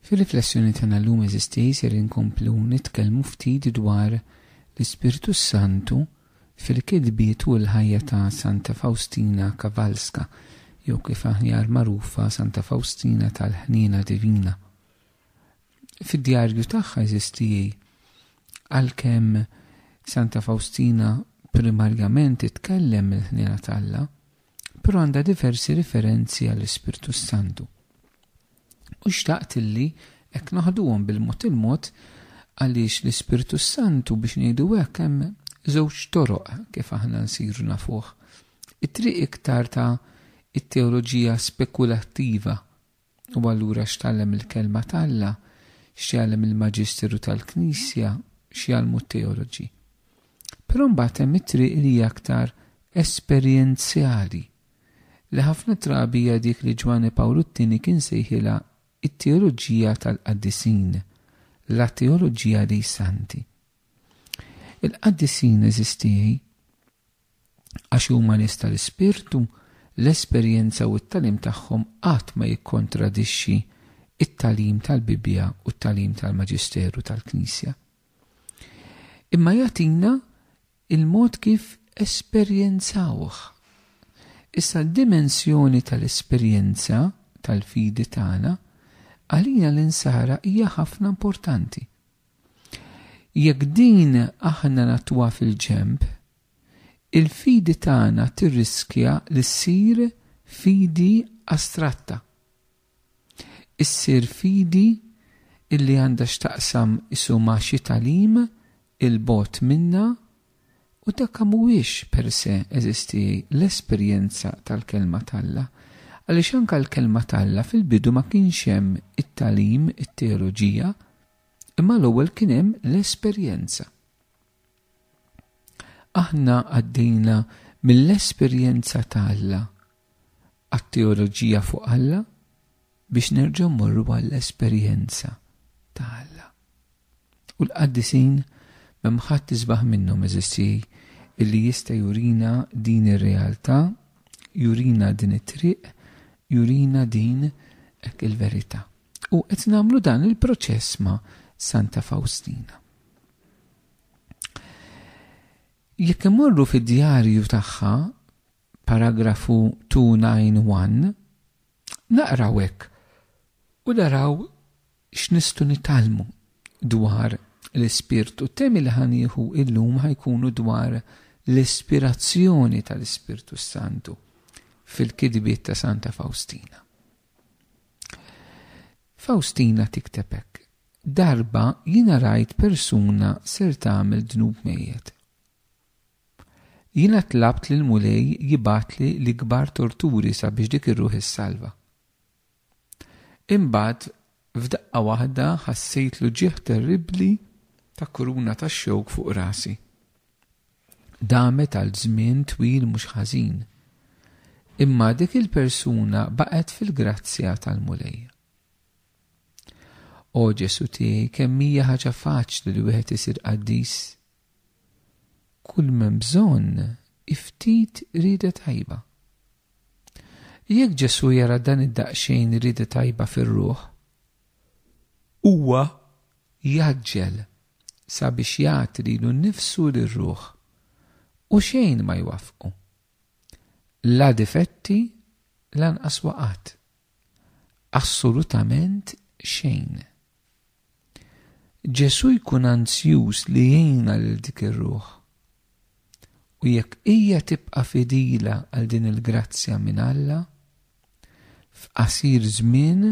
Fir-riflessjoni tagħna llum eżisti ser inkomplu nitkellmu ftit dwar l-Ispirtu s-Santu fil-kitbiet u l-ħajja ta' Santa Fawstina Kowalska jew kif aħjar magħrufa Santa Fawstina tal-Ħniena Divina. Fid-djarju tagħha eżisti għalkemm Santa Fawstina primarjament titkellem mill-ħniena t'Alla, però għandha diversi riferenzi għall-Ispirtu s-Santu. U xtaqt illi hekk naħduhom bil-mod il-mod għaliex l-Ispirtu s-Santu biex ngħidu hekk hemm żewġ toroq kif aħna nsiru nafuh. It-triq iktar ta' it-teoloġija spekulattiva U allura x'tgħallem il-Kelma t'Alla? X'jgħallem il-Maġisteru tal-Knisja? X'jgħallmu t-teoloġi? Però mbagħad hemm it-triq li hija aktar esperjenzjali, li ħafna drabi hija dik li Ġwanni Pawlu t-Tieni kien sejħilha t-teoloġija tal-qaddisin, la teologia dei santi. Il-qaddisin, għeżiż tiegħi, Għax huma nies tal-ispirtu, l-esperjenza u t-tagħlim tagħhom qatt ma jikkontradixxi t-tagħlim tal-Bibbja u t-tagħlim tal-Maġisteru tal-Knisja. Imma jagħtina l-mod kif esperjenzawh. Issa d-dimensjoni tal-esperjenza tal-fidi tagħna għalina l-insara hija ħafna importanti. Jekk din aħna nagħtuha fil-ġenb, il-fidi tagħna tirriskja li ssir fidi astratta. Issir fidi li għandha x'taqsam qisu ma' xi tagħlim 'il bogħod minna u dak mhuwiex per se, eżisti, l-esperjenza tal-Kelma t'Alla, għaliex anke l-Kelma t'Alla fil-bidu ma kienx hemm it-tagħlim, it-teoloġija, Imma l-ewwel kien hemm l-esperjenza. Aħna għaddejna mill-esperjenza ta' Alla għat-teoloġija fuq Alla biex nerġgħu mmorru għall-esperjenza ta' Alla. U l-qaddisin m'hemm ħadd isbaħ minnhom eżissi illi jista' jurina din ir-realtà, jurina din it-triq, jurina din hekk il-verità. U qed nagħmlu dan il-proċess ma' Santa Fawstina. Jekk imorru fid-djarju tagħha, paragrafu 291, naqraw hekk u daraw x'nistu nitalmu dwar l-ispirtu. Temi li ħanieħu illum ħajkunu dwar l-ispirazzjoni tal-Ispirtu Santu fil-kidbiet ta' Santa Faustina. Fawstina tikteb hekk, Darba jiena rajt persuna ser tagħmel dnub mejjet. Jiena tlabt lill-Mulej jibgħatli l-ikbar torturi sabiex dik ir-ruħ issalva. Imbagħad F'daqqa waħda ħassejt l-uġigħ terribbli ta' kuruna ta' xewk fuq rasi. Damet għal żmien twil mhux ħażin. Imma dik il-persuna baqgħet fil-grazzja tal-Mulej. O Ġesù tiegħi, kemm hija ħaġa faċli li wieħed isir qaddis Kull m'hemm bżonn hi ftit rieda tajba. Jekk Ġesù jara dan id-daqsxejn rieda tajba fir-ruħ, huwa jgħaġġel sabiex jagħti lilu nnifsu lir-ruħ, u xejn ma jwaffqu, la difetti lanqas waqgħat. Assolutament xejn. Ġesù jkun anzjuż li jgħinna lil dik ir-ruħ. U jekk hija tibqa' fidila għal din il-grazzja minn Alla, f'qasir żmien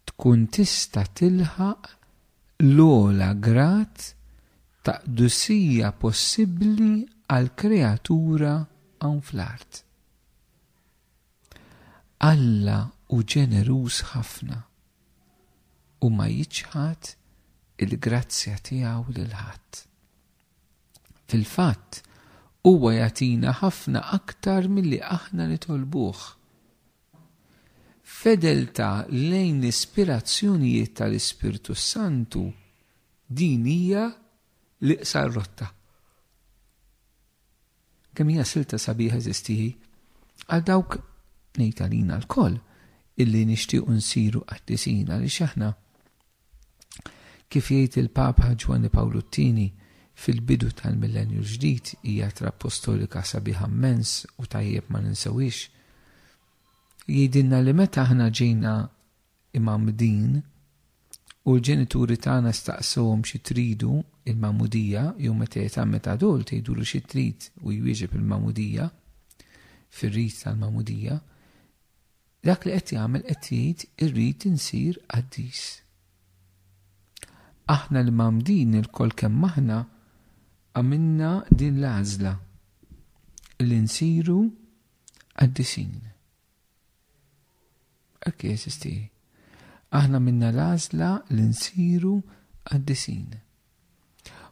tkun tista' tilħaq l-ogħla grad ta' qdusija possibbli għall-kreatura hawn fl-art. Alla hu ġeneruż ħafna u ma jiċħad il-grazzja tiegħu lil ħadd. Fil-fatt, huwa jagħtina ħafna aktar milli aħna nitolbuh. F'fedeltà lejn l-ispirazzjonijiet tal-Ispirtu s-Santu, din hija l-iqsar rotta. Kemm hija silta sabiħa eżisti hi! Għal dawk, ngħid għalina lkoll, illi nixtiequ nsiru qaddisin għaliex aħna, kif jgħid il-Papa Ġwanni Pawlu t-Tieni, fil-bidu tal-Millennju l-Ġdid hija ittra appostolika sabiħa mmens u tajjeb ma ninsewhiex. Jgħidilna li meta aħna ġejna imgħammdin, u l-ġenituri tagħna staqsuhom xi tridu, il-magħmudija, jew meta jitgħammed adult jgħidulu xi trid u jwieġeb il-magħmudija, fir-rit tal-magħmudija, dak li qed jagħmel qed jgħid irrid insir qaddis. Aħna l-imgħammdin ilkoll kemm aħna għamilna din l-għażla li nsiru qaddisin. Hekk jeżisti. Aħna minna l-għażla li nsiru qaddisin.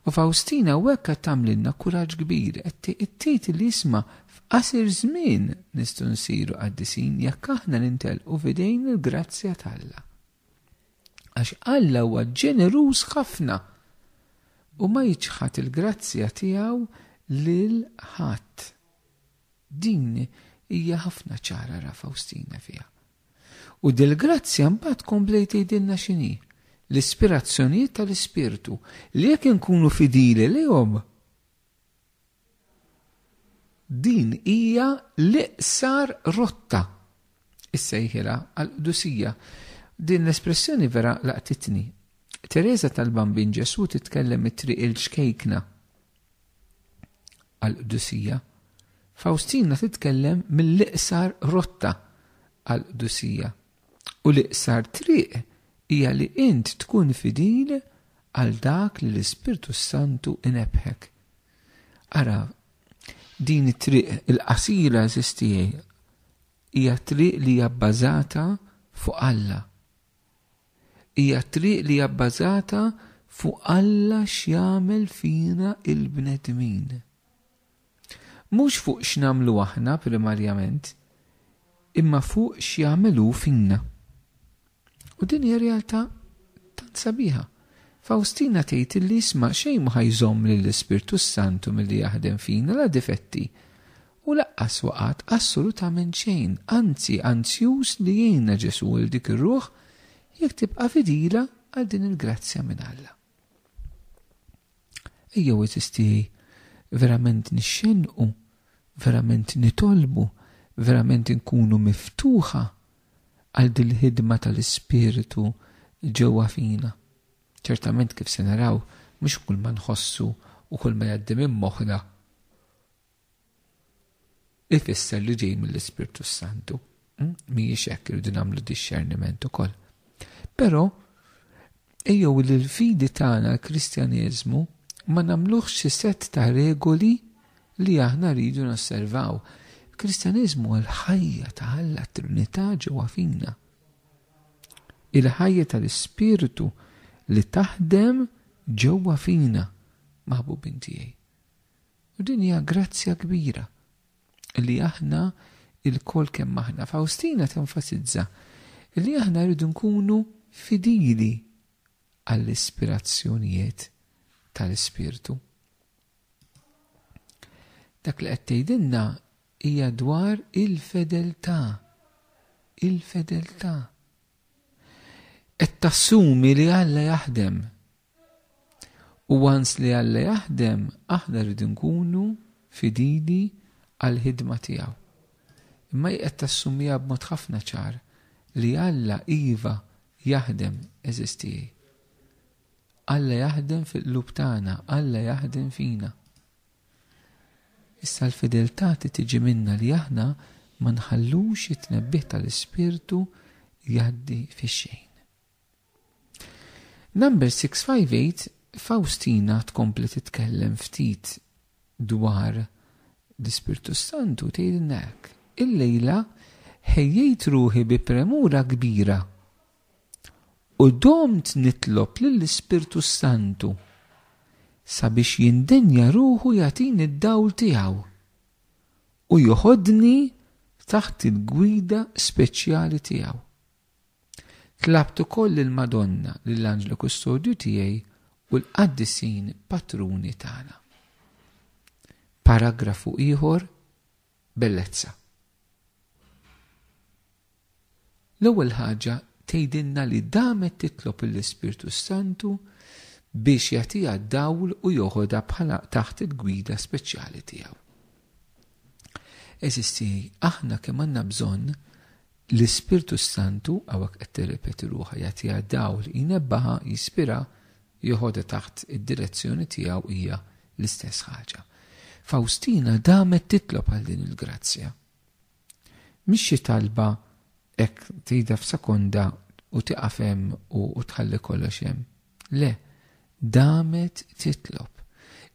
U Fawstina hawnhekk qed tagħmlilna kuraġġ kbir, qed tgħid li isma' f'qasir żmien nistgħu nsiru qaddisin jekk aħna nintelqu f'idejn il-grazzja t'Alla. Għax Alla huwa ġeneruż ħafna u ma jiċħad il-grazzja tiegħu lil ħadd. Din hija ħafna ċara ra Fawstina fiha. U dil-grazzja mbagħad komplejt tgħidilna x'inhi, l-ispirazzjonijiet tal-Ispirtu li jekk inkunu fidili lejhom, din hija l-iqsar rotta, issejħilha għall-qdusija. Din l-espressjoni vera laqtitni. Tereża tal-Bambin Ġesù titkellem it-triq 'il xkejkna. għall-qdusija, Fawstina titkellem mill-iqsar rotta għall-qdusija, u l-iqsar triq hija li int tkun fidil għal dak li l-Ispirtu s-Santu inebbħek. Ara, din it-triq il-qasira, eżiz tiegħi, hija triq li hija bbażata fuq Alla. Hija t-triq li hija bbażata fuq Alla x'jagħmel fina l-bnedmin. Mhux fuq x'nagħmlu aħna primarjament, imma fuq x'jagħmel hu fina. U din hija realtà tant sabiħa. Fawstina tgħid illi isma' xejn mhu ħa jżomm lill-Ispirtu s-Santu milli jaħdem fina, la difetti, U laqqas waqgħat assolutament xejn, anzi anzjuż li jgħinna Ġesù il dik ir-ruħ jekk tibqa' fidila għal din il-grazzja minn Alla. Ejjew għeżież tiegħi verament nixxennqu, verament nitolbu, verament inkunu miftuħa għal dil-ħidma tal-Ispirtu ġewwa fina. Ċertament kif se naraw, mhux kull ma nħossu u kull ma jgħaddi minn moħħna ifisser li ġej mill-Ispirtu s-Santu. Hm? Mhijiex hekk irridu nagħmlu dixxerniment ukoll. Però ejjew li l-fidi tagħna l-Kristjaneżmu ma nagħmluhx xi set ta' regoli li aħna rridu nosservaw. Kristjaneżmu għal ħajja ta' Alla Trinità ġewwa fina. Il-ħajja tal-Ispirtu li taħdem ġewwa fina, maħbubin tiegħi. U din hija grazzja kbira li aħna lkoll kemm aħna. Fawstina tenfasizza li aħna rridu nkunu fidili għall-ispirazzjonijiet tal-Ispirtu. Dak li qed tgħidilna hija dwar il-fedeltà. Il-fedeltà. Qed tassumi li Alla jaħdem U once li Alla jaħdem, aħna rridu nkunu fidili għall-ħidma tiegħu. Imma hi qed tassumiha b'mod ħafna ċar li Alla iva jaħdem, għeżież tiegħi. Alla jaħdem fil-qlub tagħna, Alla jaħdem fina. Issa l-fideltà trid tiġi minna li aħna ma nħallux it-tnebbih tal-Ispirtu jgħaddi fix-xejn. Number 658 Fawstina tkompli titkellem ftit dwar l-Ispirtu s-Santu u tgħidilna hekk, Illejla ħejjejt ruħi bi premura kbira u domt nitlob lill-Ispirtu s-Santu sabiex jindenja ruħu jagħtini d-dawl tiegħu u joħodni taħt il-gwida speċjali tiegħu. Tlabt ukoll lill-Madonna, lill-Anġlu Kustodju tiegħi u l-Qaddisin Patruni tagħna. Paragrafu ieħor Bellezza. L-ewwel ħaġa tgħidilna li damet titlob lill-Ispirtu s-Santu biex jagħtiha d-dawl u joħodha bħala taħt il-gwida speċjali tiegħu. Għeżież tiegħi, aħna kemm għandna bżonn l-Ispirtu s-Santu, hawnhekk qed tirrepeti ruħha, jagħtiha dawl, jnebbħha, jispirha, joħodha taħt id-direzzjoni tiegħu hija l-istess ħaġa. Fawstina damet titlob għal din il-grazzja. Mhix xi talba hekk tgħidha f'sekonda u tiqaf hemm u tħalli kollox hemm. Le, damet titlob.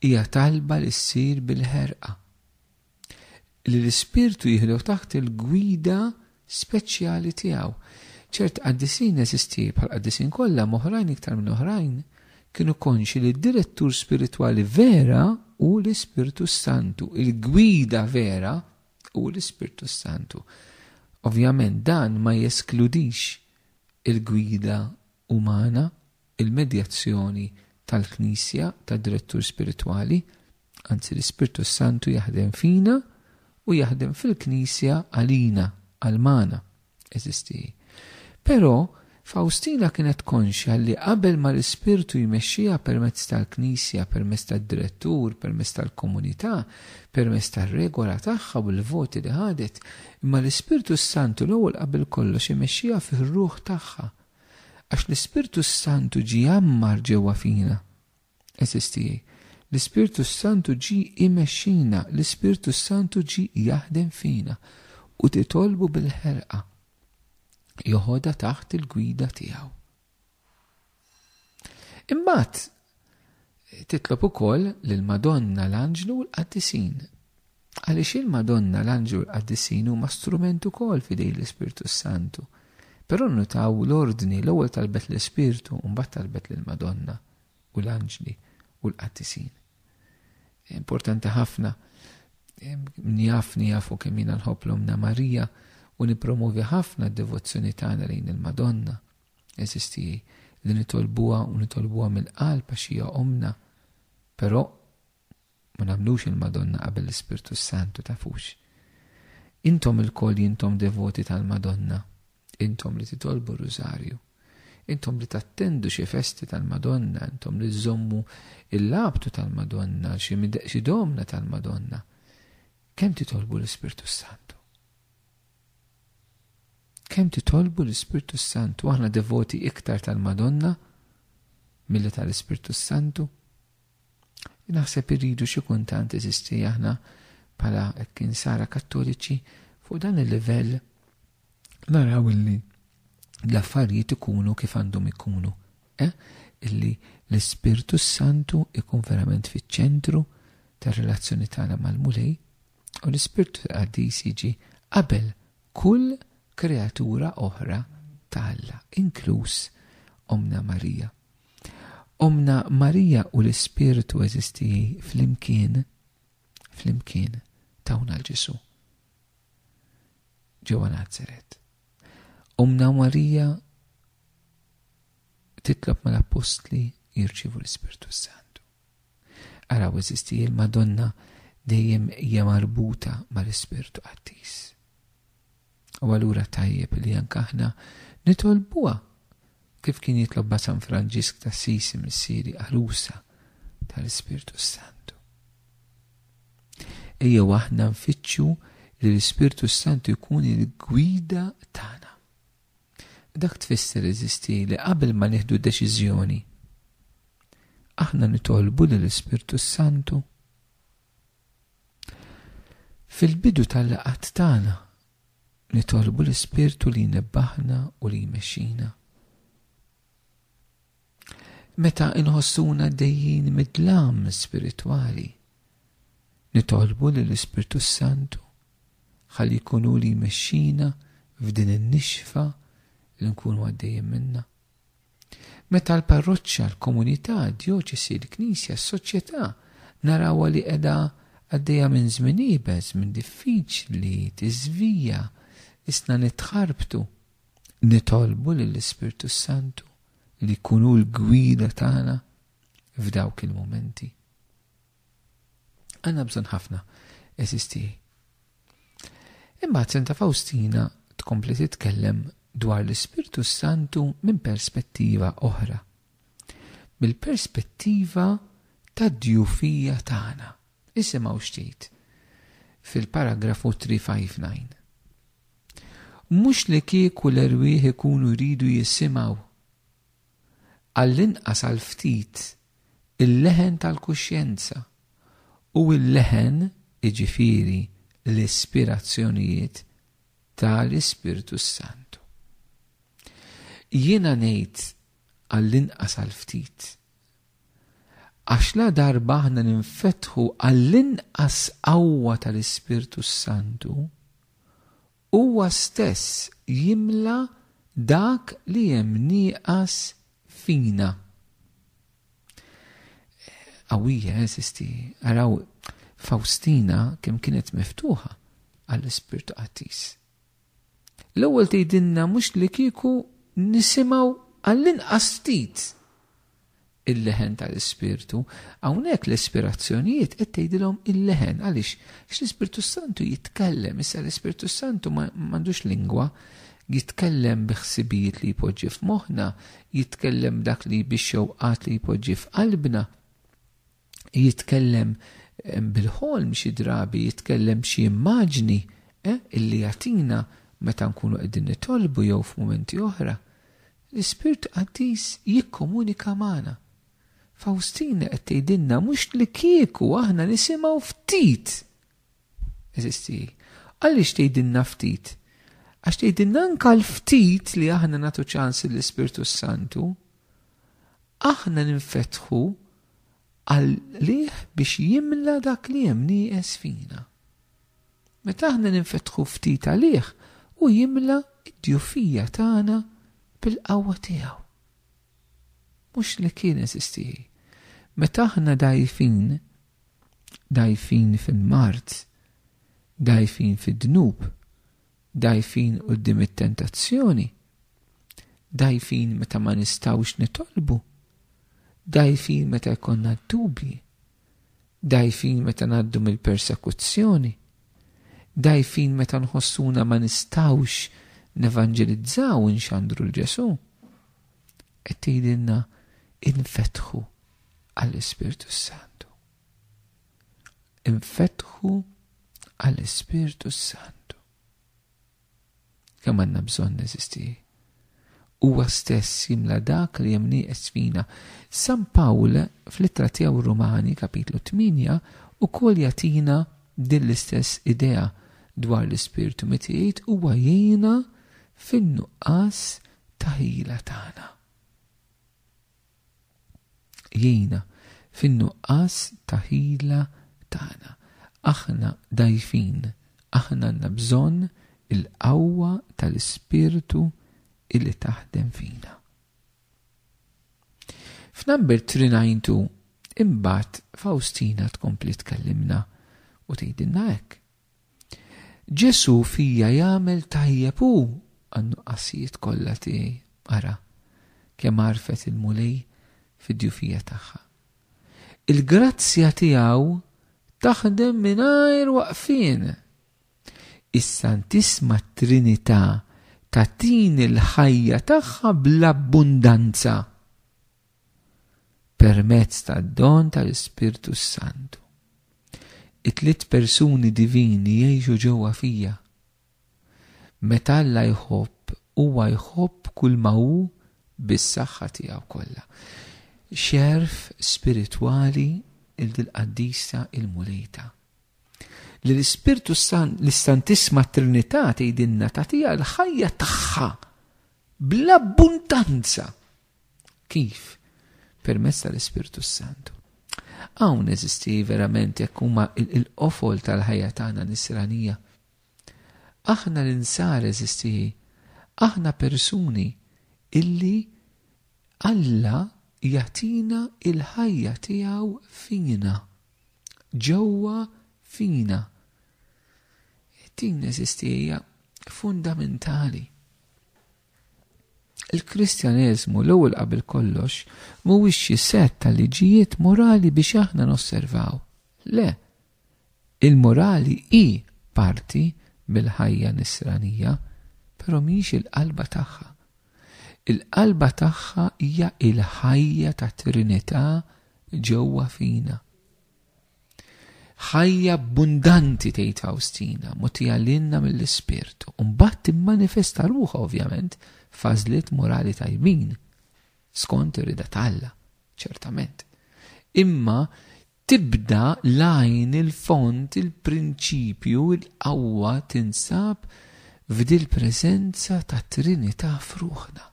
Hija talba li ssir bil-ħerqa. Li l-Ispirtu jieħdu taħt il-gwida speċjali tiegħu. Ċerti qaddisin eżisti, bħall-qaddisin kollha, m'oħrajn iktar minn oħrajn, kienu konxi li d-direttur spiritwali vera hu l-Ispirtu s-Santu, il-gwida vera hu l-Ispirtu s-Santu. Ovvjament dan ma jeskludix il-gwida umana, il-medjazzjoni tal-Knisja tad-Direttur Spiritwali, anzi l-Ispirtu s-Santu jaħdem fina u jaħdem fil-Knisja għalina, għal magħna, għeżież tiegħi. Però, Fawstina kienet konxja li qabel ma l-Ispirtu jmexxiha permezz tal-Knisja, permezz tad-Direttur, permezz tal-komunità, permezz tar-regola tagħha u l-voti li ħadet, imma l-Ispirtu s-Santu l-ewwel qabel kollox imexxiha fir-ruħ tagħha, Għax l-Ispirtu s-Santu ġie jgħammar ġewwa fina. Għeżież tiegħi, l-Ispirtu s-Santu ġie jmexxina, l-Ispirtu s-Santu ġie jaħdem fina, u titolbu bil-ħerqa joħodha taħt il-gwida tiegħu. Imbagħad Titlob ukoll lill-Madonna, l-Anġlu u l-Qaddisin. Għaliex il-Madonna, l-Anġlu u l-Qaddisin huma strument ukoll f'idejn l-Ispirtu s-Santu. Però nnutaw l-ordni, l-ewwel talbet l-Ispirtu u mbagħad talbet lill-Madonna u l-Anġli u l-Qaddisin. Importanti ħafna min jafni jafu kemm jiena nħobb l-Ommna Marija u nippromovi ħafna d-devozzjoni tagħna lejn il-Madonna. Għeżież tiegħi, li nitolbuha u nitolbuha mill-qalb għax hija ommna, però ma nagħmlux il-Madonna qabel l-Ispirtu s-Santu, tafux. Intom ilkoll jintom devoti tal-Madonna, intom li titolbu r-Rużarju, intom li tattendu xi festi tal-Madonna, intom li żommu l-labtu tal-Madonna, xi domna tal-Madonna, kemm titolbu l-Ispirtu s-Santu? Kemm titolbu l-Ispirtu s-Santu? Aħna devoti iktar tal-Madonna milli tal-Ispirtu s-Santu? Naħseb irridu xi kuntant eżisti aħna bħala hekk insara kattoliċi fuq dan il-livell naraw illi l-affarijiet ikunu kif għandhom ikunu. Eh? Illi l-Ispirtu s-Santu ikun verament fiċ-ċentru tar-relazzjoni tagħna mal-Mulej U l-Ispirtu l-Qaddis jiġi qabel kull kreatura oħra ta' Alla, inkluż Ommna Marija. Ommna Marija u l-Ispirtu eżistiji flimkien, flimkien tawna l-Ġesu. Ġewwa Nazaret. Ommna Marija titlob mal-Appostli jirċivu l-Ispirtu Santu. Araw eżisti il-Madonna dejjem hija marbuta mal-Ispirtu Qaddis. U allura tajjeb li anke aħna nitolbuha kif kien jitlobha San Franġisk t'Assisi Missieri Għarusa tal-Ispirtu s-Santu. Ejjew aħna nfittxu li l-Ispirtu s-Santu jkun il-gwida tagħna. Dak tfisser eżisti li qabel ma nieħdu deċiżjoni aħna nitolbu lill-Ispirtu s-Santu. Fil-bidu tal-laqgħat tagħna nitolbu l-Ispirtu li jnebbaħna u li jmexxina. Meta inħossuna għaddejjin mid-dlam spiritwali, nitolbu lill-Ispirtu s-Santu ħalli jkun hu li jmexxina f'din in-nixfa li nkunu għaddejjin minnha. Meta l-parroċċa, l-komunità, d-djoċesi, l-Knisja, s-soċjetà narawha li qiegħda għaddejja minn żmien iebes, minn diffiċli, tiżvija, isna nitħarbtu, nitolbu lill-Ispirtu s-Santu li jkun hu l-gwida tagħna f'dawk il-mumenti. Għandna bżonn ħafna, eżis tiegħi. Imbagħad Santa Fawstina tkompli titkellem dwar l-Ispirtu Santu minn perspettiva oħra. Mill-perspettiva tad-djufija tagħna, Isimgħu x'tgħid fil-paragrafu 359. Mhux li kieku l-erwieħ ikunu jridu jisimgħu, għall-inqas għal ftit, il-leħen tal-kuxjenza, u l-leħen, jiġifieri l-ispirazzjonijiet ta' l-Ispirtu s-Santu. Jiena ngħid għall-inqas għal ftit, Għax ladarba aħna ninfetħu għall-inqas qawwa tal-Ispirtu s-Santu, Huwa stess jimla dak li hemm nieqas fina. Qawwija, eżisti, araw Fawstina kemm kienet miftuħa għall-Ispirtu Qaddis. L-ewwel tgħidilna mhux li kieku nisimgħu għall-inqas ftit il-leħen tal-Ispirtu. Hawnhekk l-ispirazzjonijiet qed tgħidilhom il-leħen. Għaliex? Għax l-Ispirtu s-Santu jitkellem. Issa l-Ispirtu s-Santu ma għandux lingwa. Jitkellem bi ħsibijiet li jpoġġi f'moħħna, jitkellem b'dak li bix-xewqat li jpoġġi f'qalbna. jitkellem bil-ħolm xi drabi, jitkellem xi immaġni eh, illi jagħtina meta nkunu qegħdin nitolbu jew f'mumenti oħra. L-Ispirtu Qaddis jikkomunika magħna. Fawstina qed tgħidilna mhux li kieku aħna nisimgħu ftit. Eżisti, għaliex tgħidilna ftit? Għax tgħidilna anka l-ftit li aħna nagħtu ċans l-Ispirtu Santu, aħna ninfetħu għalih biex jimla dak li hemm nieqes fina. Meta aħna ninfetħu ftit għalih, hu jimla d-djufija tagħna bil-qawwa tiegħu. Mhux li kien eżisti hi. Meta aħna dgħajfin, dgħajfin fil-mard, dgħajfin fid-dnub, Dgħajfin quddiem it-tentazzjoni, dgħajfin meta ma nistgħux nitolbu, dgħajfin meta jkollna d-dubji, dgħajfin meta ngħaddu mill-persekuzzjoni, dgħajfin meta nħossuna ma nistgħux nevanġelizzaw u nxandru l-Ġesu. Qed tgħidilna infetħu għall-Ispirtu Santu. Infetħu għall-Ispirtu s-Santu. Kemm għandna bżonn eżisti? Huwa stess jimla dak li hemm nieqes fina. San Pawl fl-ittra tiegħu Rumani kapitlu 8 ukoll jagħtina din l-istess idea dwar l-Ispirtu meta jgħid huwa jgħinna fin-nuqqas ta' ħila tagħna. jgħinna fin-nuqqas ta' ħila tagħna. Aħna dgħajfin, aħna għandna bżonn il-qawwa tal-Ispirtu li taħdem fina. F'Number 392 imbagħad Faustina tkompli tkellimna u tgħidilna hekk, Ġesù fija jagħmel tajjeb hu għan-nuqqasijiet kollha tiegħi. Ara kemm għarfet il-Mulej fid-djufija tagħha. Il-grazzja tiegħu taħdem mingħajr waqfien. Is-Santissma Trinità tagħtini l-ħajja tagħha bl-abbundanza. permezz tad-don tal-Ispirtu s-Santu. It-tliet persuni divini jgħixu ġewwa fija. Meta Alla jħobb, huwa jħobb kull ma hu bis-saħħa tiegħu kollha. Xerf spiritwali il dil-qaddisa il-Mulejta. Li l-Ispirtu San l-Istantisma Trinità tgħidilna tagħtiha l-ħajja tagħha bl-abbundanza Kif? Permezz tal-Ispirtu s-Santu. Hawn eżisti verament jekk huma il-qofol tal-ħajja tagħna nisranija. Aħna l-insar eżisti aħna persuni illi Alla jagħtina il-ħajja tiegħu fina. Ġewwa fina. Din eżisti hija fundamentali. Il-Kristjaneżmu l-ewwel qabel kollox mhuwiex xi sett ta' liġijiet morali biex aħna nosservaw. Le, il-morali hi parti mill-ħajja nisranija, però mhijiex il-qalba tagħha. Il-qalba tagħha hija l-ħajja tat-Trinità ġewwa fina. Ħajja abbundanti tgħid Fawstina, mogħtija lilna mill-Ispirtu, u mbagħad timmanifesta ruħha ovvjament f'għażliet morali tajbin, skont ir-rida t'Alla, ċertament. Imma tibda l-għajn il-fond il-prinċipju il-qawwa tinsab f'dil-preżenza tat-Trinità f'ruħna.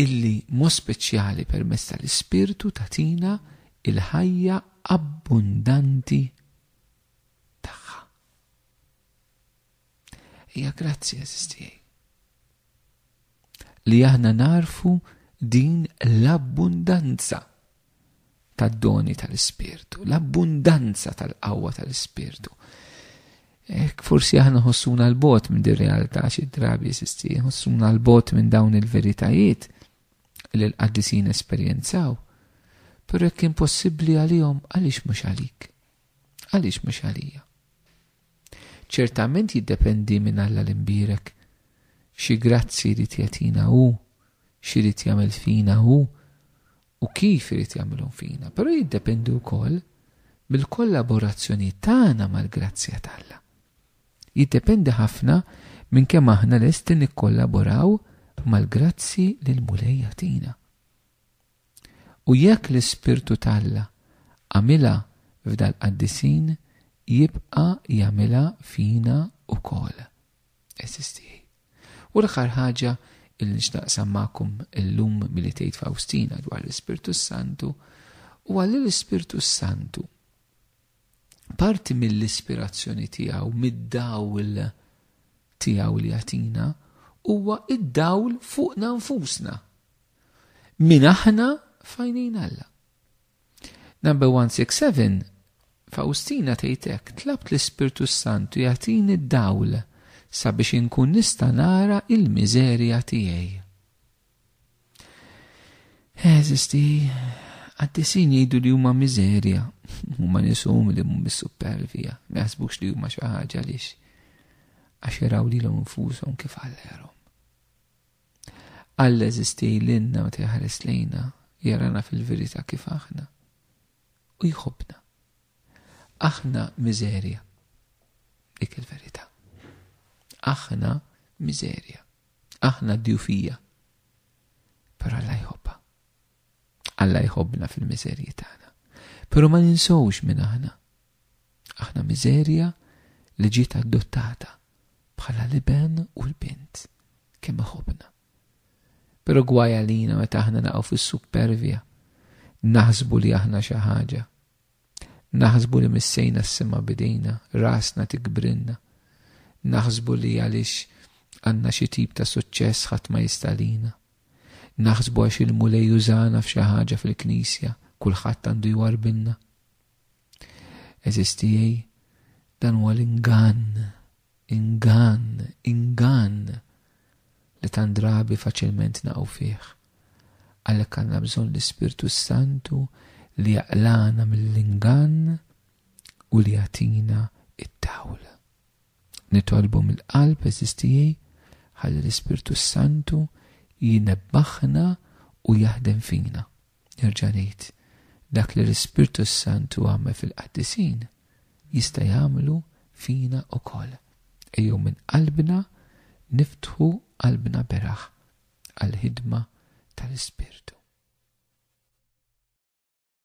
illi mod speċjali permezz tal-Ispirtu tagħtina l-ħajja abbundanti tagħha. Hija grazzi għażiż tiegħi li aħna narfu din l-abbundanza tad-doni tal-Ispirtu, l-abbundanza tal-qawwa tal-Ispirtu. Ek forsi aħna ħossuna l-bot minn dir realtà xi drabi sisti, ħossuna l-bot minn dawn il-veritajiet li l-qaddisin esperjenzaw. Pero jekk impossibbli għalihom għaliex mhux għalik? Għaliex mhux għalija? Ċertament jiddependi minn Alla l-imbirek. Xi grazzi li tjatina hu, xi li jagħmel fina hu, u kif irid jagħmilhom fina, però jiddependi wkoll mill-kollaborazzjoni tagħna mal-grazzja t'Alla. Jiddependi ħafna minn kemm aħna lesti nikkollaboraw mal-grazzi li l-Mulej jagħtina. U jekk l-Ispirtu t'Alla għamilha f'dal-qaddisin jibqa' jagħmilha fina wkoll. Eżis tiegħi. U l-aħħar ħaġa li nix naqsam magħkom illum milli tgħid Fawstina dwar l-Ispirtu s-Santu huwa li l-Ispirtu s-Santu parti mill-ispirazzjoni tiegħu mid-dawl tiegħu li jagħtina huwa id-dawl fuqna nfusna. Min aħna fajnejn Alla. Number 167 Fawstina tgħid hekk, tlabt l-Ispirtu s-Santu jagħtini d-dawl sabiex inkun nista' nara il-miżerja tiegħi. Eżisti, għaddisin jgħidu li huma miżerja, huma nisum li mhum supervija, ma jaħsbux li huma xi ħaġa lix għax jaraw lilhom infushom kif għallerhom. Alla jeżisti lilna meta jeħares lejna, jarana fil-verità kif aħna, u jħobbna. Aħna miżerja. Dik il-verità. Aħna miżerja. Aħna djufija. Però Alla jħobba. Alla jħobbna fil-miżerji tagħna. Però ma ninsowx minn aħna. Aħna miżerja li ġiet adottata bħala l-iben u l-bint, kemm iħobbna. Però gwaj għalina meta aħna naqgħu fis-suppervja, naħsbu li aħna xi ħaġa. Naħsbu li missejna s-sema bidejna, rasna tikbrinna. Naħsbu li għaliex għandna xi tip ta' suċċess ħadd ma jistalina. Naħsbu għax il-mulej użana f'xi ħaġa fil-knisja, kulħadd għandu jwarbilna. Eżiz tiegħi, dan huwa l-ingann, ingann, ingann li tant drabi faċilment naqgħu fih. Għalhekk għandna bżonn l-Ispirtu s-Santu li jaqlana mill-ingann u li jagħtina it-tawl. Nitolbu mill-qalb eżiz tiegħi ħalli l-Ispirtu s-Santu jinebbaħna u jaħdem fina. Nerġa' ngħid, dak li l-Ispirtu s-Santu għamel fil-qaddisin, jista' jagħmlu fina wkoll. Ejjew minn qalbna niftħu qalbna beraħ għall-ħidma tal-Ispirtu.